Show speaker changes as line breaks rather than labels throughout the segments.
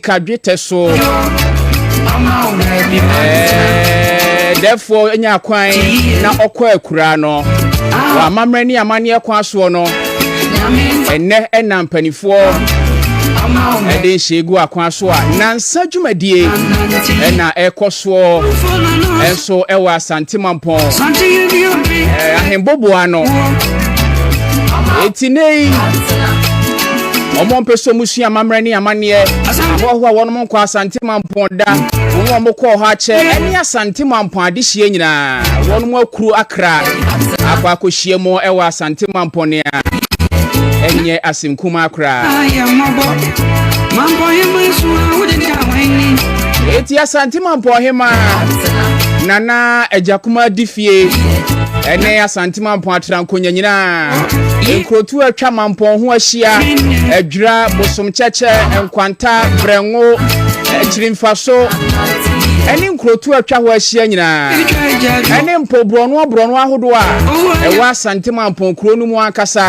ka dwetɛ so dɛfoɔ nya kwan na ɔkɔ akuraa no wɔ amammerɛ ne amanneɛ kwan soɔ no ɛnɛ ɛna mpanimfoɔ ɛde nhyɛ gu akwan so a nansa dwumadie ɛna ɛkɔ soɔ ɛnso ɛwɔ asante mampɔn ahemboboa no eti ne yi. wɔn mpɛ sɛ wɔn sua amammerɛ ne amanneɛ ahoahoa wɔn mo nkɔ asante mampɔn da wɔn a wɔkɔɔ hɔ akyɛ ɛne asante mampɔn adehyeɛ nyinaa wɔn mo akuro akra akɔ akɔhyia mu ɛwɔ asante mampɔn ne a ɛnyɛ asɛm kumaa koraa ɛti asante mampɔn hema nana agya kuma di fie ɛne asante ɔte mampɔn atrankonya nyinaa nkurotu atwa mampɔn ho ahyia adwira bosom kyɛkyɛ nkwanta brɛngo akyirimfaso ɛne nkurotu atwa hɔ ahyia nyinaa ɛne mpo borɔnoa borɔnoa ahodoɔ a ɛwɔ asante mampɔn kuro no mu ankasa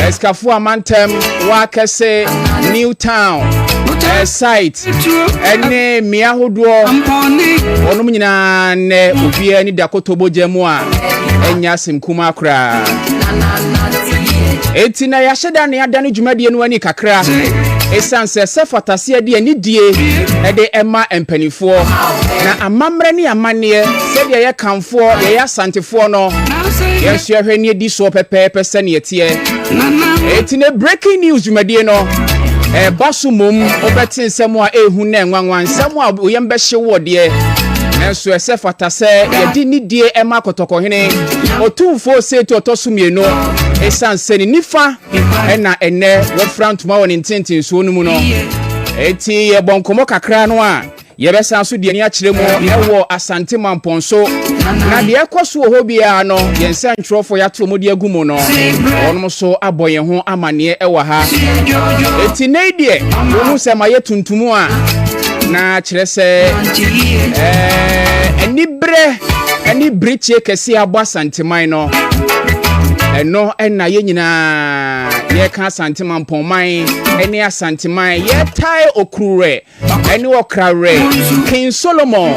ɛsikafo amantam wakɛse new town ɛsait ɛne mmea ahodoɔ wɔnom nyinaa nnɛ obiara ne dakoto bogya mu a ɛnyɛ asɛm kuma koraa enti na yɛahyɛ da ne ada no dwumadie no ani kakra ɛsiane sɛ sɛ fataseɛ deɛ ne die ɛde ɛma mpanimfoɔ na amammerɛ ne amanneɛ sɛdeɛ yɛ kamfoɔ yɛyɛ asantefoɔ no yɛnso yɛhwɛ ne ɛdi soɔ pɛpɛɛpɛ sɛneɛ teɛ Eti ne breaking news dwumadie no ɛba so mmom wobɛte nsɛm a ɛhu na nwanwa nsɛm a woyɛm bɛhye woɔ deɛ nanso ɛsɛ fata sɛ yɛde nidie ɛma kɔtɔkɔhene ɔtumfoɔ seetu ɔtɔ so mmienu ɛsiane sɛ ne nifa ɛna ɛnɛ wɔfira ntoma wɔ ne ntentensoɔ no mu no ɛti yɛbɔ nkɔmmɔ kakra no a Yɛbɛsan so de ani akyerɛ mu wɔ Asante Mampɔn so, na deɛ ɛkɔ so wɔ hɔ biara no, yɛn nsɛntwerɛfoɔ yɛato wɔn de agu mu no, wɔn nso abɔ yɛn ho amanneɛ wɔ ha. Eti nnɛ yi deɛ, wɔhu sɛ mayɛ tuntum a, na kyerɛ sɛ ɛɛ anibrɛ ne birikyeɛ kɛseɛ abɔ Asanteman no. ɛno ɛna yɛn nyinaa yɛka asante mampɔnman ɛne asanteman yɛtae okuruwɛ ɛne ɔkra werɛ king solomon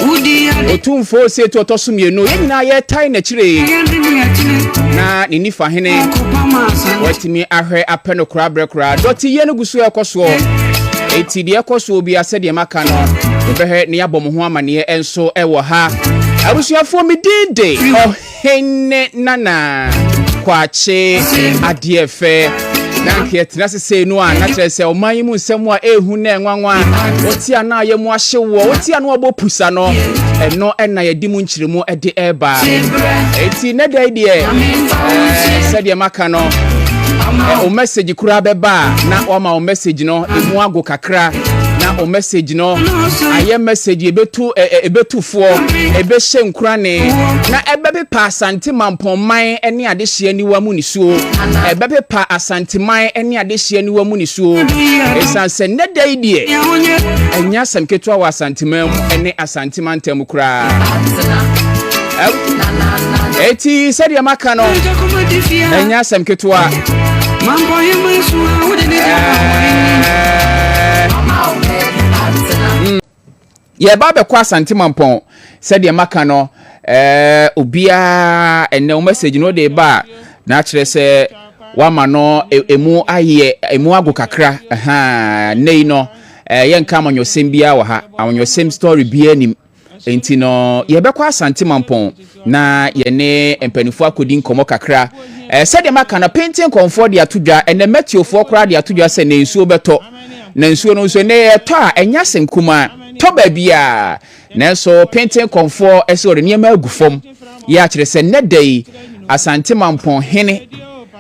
ɔtumfoɔ sietu ɔtɔ so mmienu yɛn nyinaa yɛtae n'akyire na ne nifa hene watumi ahwɛ apɛ no koraa berɛ koraa dɔteyɛ no gu so ɛkɔ soɔ enti deɛ ɛkɔ soɔ bia sɛdeɛ maka no yɛbɛhwɛ ne yɛabɔ mo ho amanneɛ nso ɛwɔ ha abusuafoɔ medin de Henne nana kwakye adeɛ fɛ na nka yɛtena ase sei no a na kyerɛ sɛ ɔman yi mu nsɛm a ɛhu na ɛnwanwa wɔte a na ayɛ mu ahye woɔ wɔte a na wɔbɔ pusa no ɛno ɛna yɛde mu nkyerɛmu ɛde ɛreba ɛti ne da yi deɛ ɛɛ sɛdeɛ maka no o message koraa bɛba a na wɔama o message no emu ago kakra na o message no ayɛ message ebetu ebetufoɔ ebehyɛ nkurane na ɛbɛpepa asante mampɔnman ne adehyeɛ niwa mu nisuo ɛbɛpepa asanteman ne adehyeɛ niwa mu nisuo esan sɛ nnɛ da yi deɛ ɛnyɛ asɛm ketewa wɔ asanteman mu ne asante. tema ntam koraa ɛti sɛdeɛ maka no ɛnyɛ asɛm ketewa yɛba bɛkɔ asante mampɔn sɛdeɛ maka no eh, obiara ɛnɛ wo message no de ba a na akyerɛ sɛ wama no e, emu ayɛ emu ago kakra ɛha nnɛ yi no Eh, yɛnka amanyɔsɛm biara wɔ ha. Amanyɔsɛm story biara nim. Enti no, yɛbɛkɔ Asante Mampɔn na yɛne mpanimfoɔ akɔdi nkɔmmɔ kakra. Eh, sɛdeɛ maka no, Penten kɔnfoɔ de ato dwa, ɛnɛ Matiofoɔ koraa de ato dwa sɛ na nsuo bɛtɔ. Na nsuo no nso, ɛnɛ ɛtɔ a, ɛnyɛ asɛm kumaa. Tɔ baabiara. Nanso Penten kɔnfoɔ sɛ ɔde nneɛma agu fam. Yɛ akyerɛ sɛ nnɛ da yi, Asante Mampɔn hene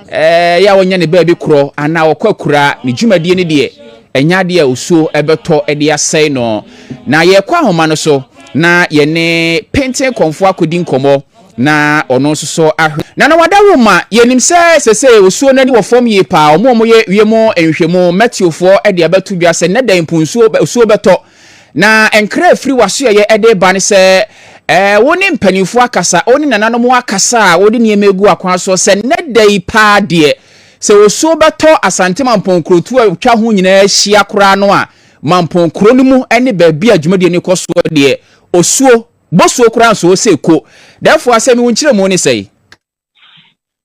eh, yɛ a ɔnyɛ ne baabi korɔ anaa ɔkɔ akuraa, ne dwumadie no deɛ, Ɛnyɛ adeɛ a osuo bɛtɔ de asɛe no. Na yɛrekɔ ahoma no so na yɛne Penten Kɔmfoɔ akɔdi nkɔmmɔ na ɔno nso so ahwɛ. Nana Wadawoma, yɛnim sɛ seesei osuo no ani wɔ fam yie pa ara. Wɔn a wɔyɛ wiem nhwehwɛmu, mɛteofoɔ, de abɛto dwa sɛ nnɛ da yi mpo nsuo, osuo bɛtɔ. Na nkra a ɛfiri w'asoɛeɛ de reba ne sɛ wo ne mpanimfoɔ akasa, wo ne nananom akasa a wɔde nneɛma agu akwan soɔ sɛ nnɛ da yi pa ara deɛ, Sɛ osuo bɛtɔ Asante Mampɔn nkurotuo a atwa ho nyinaa ahyia koraa no a, Mampɔn kuro no mu ne baabi a dwumadie no rekɔ soɔ deɛ, osuo, bosuo koraa nso sɛ ɛko. Therefore, asɛm yi wo nkyerɛmu ne sɛn?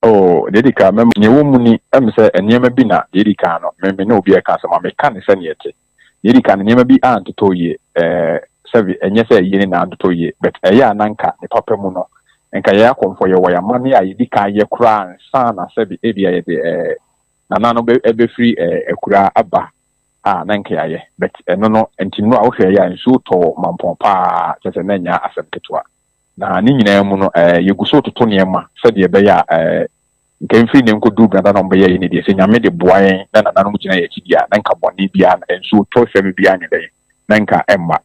Oh, deɛ ɛdi
kan, mɛma, deɛ ɛwɔ mu ni, ɛm sɛ nneɛma bi na, deɛ ɛdi kan no, me, me ne obi reka asɛm a, meka no sɛdeɛ ɛte. Nea edi kan no, nneɛma bi antotɔ yie. Ɛɛ, sɛbe ɛnyɛ sɛ yie ne nyinaa ntotɔ yie, but ɛyɛ a na anka ne papa mu no, anka yɛn akɔmfoɔ yɛwɔ yɛn amanneɛ a yɛdi kan yɛ koraa ansa na sɛbe ebia yɛde ɛɛ nana no bɛ ɛbɛfiri ɛɛ akuraa aba a na anka yɛayɛ. But ɛno no, nti no a wohwɛ ɛyɛ a nsuo tɔɔ mampɔn paa, kyerɛ sɛ na ɛnyɛ asɛm ketewa. Na ne nyinaa mu no, yɛgu so retoto nneɛma sɛdeɛ ɛbɛyɛ a nka mfiri nnɛ nkɔduru berɛ a nananom bɛyɛ yɛn adeɛ sɛ Nyame de boa yɛn na nananom gyina yɛn akyi deɛ a, na nka bɔne biara, nsuo tɔ sɛm biara nyɛ dɛn, na nka ɛmma.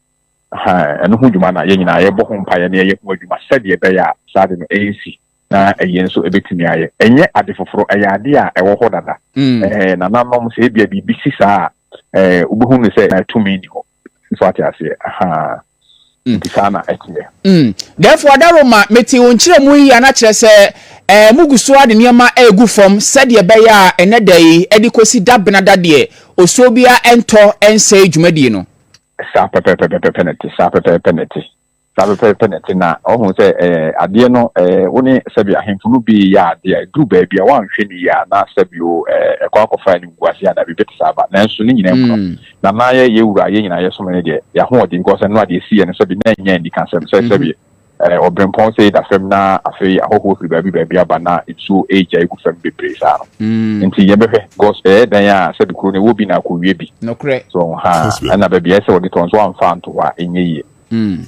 Ahaa, ɛno ho dwuma na yɛn nyinaa yɛbɔ ho mpaeɛ na yɛyɛ ho adwuma sɛdeɛ ɛbɛyɛ a saa ade no ɛrensi na yɛn nso ɛbɛtumi ayɛ. Ɛnyɛ ade foforɔ, ɛyɛ adeɛ a ɛwɔ hɔ dada. Ɛɛ, nananom, sɛ ebia biribi si saa a, ɛɛ, wobɛhunu no sɛ tumi nni hɔ. so ate aseɛ ahaa mm. nti saa na ɛteɛ mm. therefore daroma
mete wo nkyerɛ mu yi a na kyerɛ sɛ ɛɛ eh, mo gu so a de nneɛma ɛregu fam sɛdeɛ ɛbɛyɛ a ɛnɛ da yi ɛde kɔsi da bena da deɛ osuo biara ɛntɔ ɛnsɛe dwumadie no saa pɛpɛpɛpɛpɛ
na ɛte saa pɛpɛpɛpɛ na ɛte Saa pɛpɛɛpɛ na ɛte. Ná ɔhu sɛ adeɛ no, wo ne sɛbe ahemfo no bi yɛ adeɛ a, ɛduru baabi a, woanhwɛ no yie a, na sɛbe o, ɛkɔ akɔfa animguaseɛ anaa biribi te saa ba. Nanso ne nyinaa mu no, na na yɛn wura a yɛn nyinaa yɛsom no no deɛ, yɛn ahoɔden, because ɛno a deɛ ɛsiiɛ no, sɛbe na ɛnyɛ anikasɛm sɛ sɛbe ɔberempɔn sei da fam na afei ahɔhoɔ firi baabi baabi aba na nsuo regyae gu fam bebree saa no. Nti yɛbɛhwɛ, because ɛyɛ dan a sɛbe kuro no ɛwɔ bi na akɔwie bi. Nokorɛ. So, ha,
ɛna
baabi a ɛsɛ wɔde tɔ nso wɔamfa anto hɔ a, ɛnyɛ yie. Mm.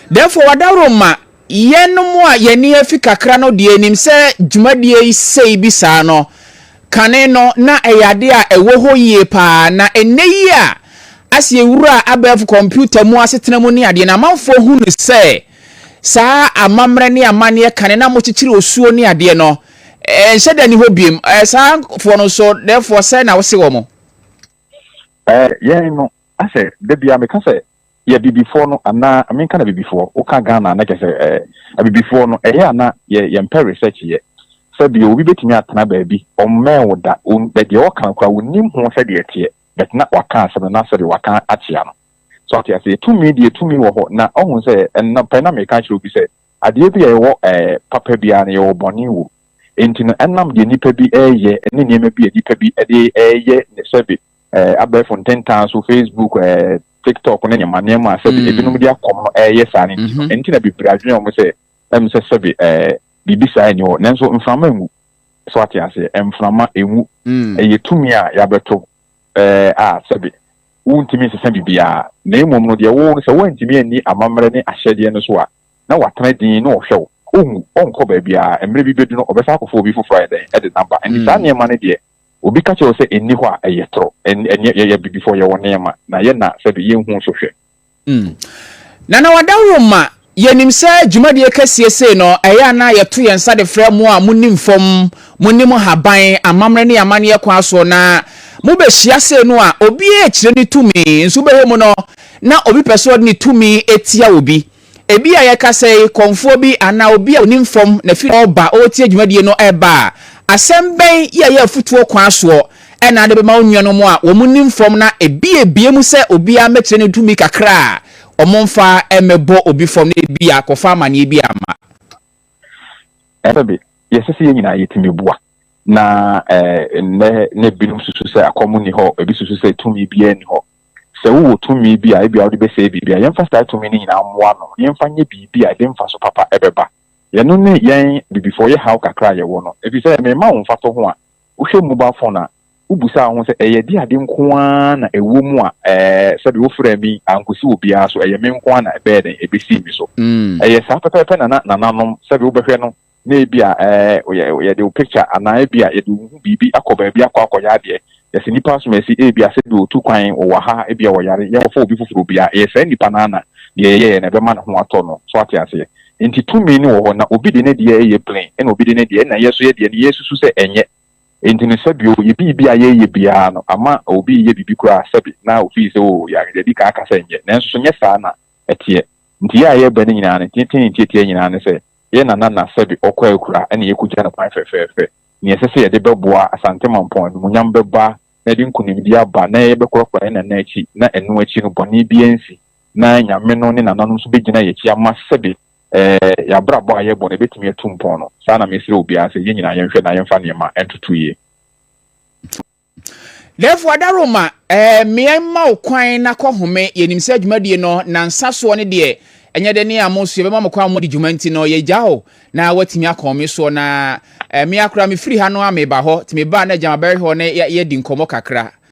Therefore, wadaworo ma yɛnom a yɛn ani afi kakra no deɛ nim sɛ dwumadie yi sei bi saa no, kane no na ɛyɛ adeɛ a ɛwɔ hɔ yie paa, na ɛnnɛ yi a ase yɛwura abɛɛfo kɔmputa mu asetena mu ne adeɛ no, amanfoɔ hu no sɛ saa amammerɛ ne amanneɛ kane no a mokyekyere osuo ne adeɛ no, ɛnhyɛ da ni hɔ biom. Ɛɛ, saa foɔ no nso, therefore, sɛ na wose wɔn. Ɛɛ,
yɛn no, asɛ, da biara meka sɛ, yɛ abibifoɔ no anaa menka no abibifoɔ woka Ghana na kyɛ sɛ eh, abibifoɔ no ɛyɛ ana yɛ yɛmpɛ research yɛ sɛ bio obi bɛtumi atena baabi ɔmmɛn wo da deɛ ɔka koraa wonim ho sɛdeɛ ɛteɛ but na waka asɛm no na sɛdeɛ waka akyea no so ate aseɛ tumi deɛ tumi wɔ hɔ na ɔhu sɛ ɛna pɛ na meka kyerɛ obi sɛ adeɛ bi a ɛwɔ ɛɛ eh, papa biara no yɛwɔ bɔne wɔ enti no ɛnam deɛ nipa bi ɛreyɛ ne nneɛma bi a nipa bi ɛde ɛreyɛ ne sɛbe eh, abɛɛfo ntentan so facebook eh, tiktok ne nneɛma nneɛma sɛbi mm. ebinom de akɔm no ɛyɛ saa ne nti no mhm. ɛnti na bebree adwene wɔn sɛ ɛm sɛ sɛbi ɛɛ eh, biribi saa ɛni hɔ nanso mframa enwu so ate aseɛ mframa enwu mm. ɛyɛ tumi a yabɛto ɛɛ eh, a sɛbi wontumi nsesa biribiara na emom no deɛ wɔn sɛ wɔntumi ani amammerɛ ne ahyɛdeɛ no so a na watena din na ɔhwɛ wo ohun ɔnkɔ baabiara mmerɛ bi bɛdu no ɔbɛsa akɔfo obi foforɔ ayɛ dɛn ɛde namba ɛnti mm. saa nneɛma no deɛ Obi ka kyerɛ wo sɛ ɛnni hɔ a, ɛyɛ toro. Ɛn, ɛnneɛ yɛyɛ abibifoɔ, yɛwɔ nneɛma, na yɛn na sɛbe yɛnhuu so hwɛ. Mm.
Na na wadaworo ma yɛnim sɛ dwumadie kɛseɛ sei no, ɛyɛ a na yɛto yɛn nsa de frɛ mo a monim fam, monim haban, amammerɛ ne amanneɛ kwan soɔ, na mobɛhyia sei no a, obiara rekyerɛ ne tumi, nso wobɛhwɛ mu no, na obi pɛ sɛ ɔde ne tumi tia obi. Ebia yɛka sɛ kɔmfoɔ bi anaa obi a ɔnim fam na firi hɔ reba ɔretie dwumadie no reba a, asɛm bɛn yɛ yɛ afotuo kwan soɔ na de bɛma wo nuanom a wɔnim fam na ebiebie mu sɛ obiara mmɛkyerɛ ne tumi kakra a wɔmfa mmɛbɔ obi fam na ebia akɔfa amaneɛ bi ama. Ɛfɛ de,
yɛsɛ sɛ yɛn nyinaa yɛtumi boa. Na ɛnnɛ na ebinom susu sɛ akɔm nni hɔ, ebi susu sɛ tumi biara nni hɔ. Sɛ wowɔ tumi bi a ebia wode bɛsɛe biribi a, yɛmfa saa tumi no nyinaa mmoa ano na yɛmfa nyɛ biribi a ɛde mfaso papa bɛba. Yɛno ne yɛn Abibifoɔ yɛ haw kakra a yɛwɔ no. Ɛfiri sɛ, merema wo mfatoho a, wohwɛ mobile phone a, wobusa wo ho sɛ, 'Ɛyɛ ɛde ade nko ara na ɛwɔ mu a ɛɛ sɛbe wofrɛɛ me yi, ankɔsi obiara so? Ɛyɛ me nko ara na ɛbɛyɛ dɛn? Ɛbɛsii me so? Ɛyɛ saa pɛpɛɛpɛ na na nananom, sɛbe wobɛhwɛ no, na ebia yɛde wo picture anaa ebia yɛde wo ho biribi akɔ baabi akɔ akɔyɛ adeɛ, yɛse nipa asomasi ebia sɛdeɛ otu kwan ɔwɔ ha ebia ɔyare yɛnkɔfa obi foforɔ bi a ɛyɛ saa nipa no ara na deɛ yɛyɛɛ no ɛbɛma ne ho atɔ no so wate aseɛ nti tumi no wɔ hɔ na obi de ne deɛ ɛyɛ plain ɛna obi de ne deɛ ɛna yɛ so yɛ deɛ no yɛsusu sɛ ɛnyɛ nti no sɛbi o yɛ biribi a yɛyɛ biara no ama obi yɛ biribi koraa sɛbi na ofii sɛ o yare yɛdi kan aka sɛ ɛnyɛ nanso so nyɛ saa na ɛteɛ nti yɛ a yɛbɛ no nyinaa no ntiatia ntiatia nyinaa ne sɛ. Yɛn Nana na sɛbe ɔkɔ akura na yɛkɔgyina no kwan fɛfɛɛfɛ. Nea ɛsɛ sɛ yɛde bɛboa Asante Mampɔn animuonyam bɛba na yɛde nkonimdie aba na yɛbɛkorɔkorɔ yɛn Nana akyi na ɛno akyi no bɔne biara nsi na Nyame no ne Nananom nso bɛgyina yɛn akyi ama sɛbe yɛn abrabɔ a yɛbɔ no ɛbɛtumi atu mpɔn no. Saa na mesrɛ obiara sɛ yɛn nyinaa yɛnhwɛ na yɛmfa nneɛma ntoto yie.
Therefore, Adaroma, eh, mmea mma wo kwan na kɔ home. Yɛnim sɛ dwumadie no, nansa soɔ no deɛ, ɛnyɛ dɛ ne amo so yɛbɛma mo kwan mo di dwuma nti no, yɛgya hɔ na woatumi akɔ home soɔ. Na eh, mmea koraa mefiri ha no a meba hɔ, nti mebaa na agya ma bɛrehwɛ hɔ na yɛadi nkɔmmɔ kakra.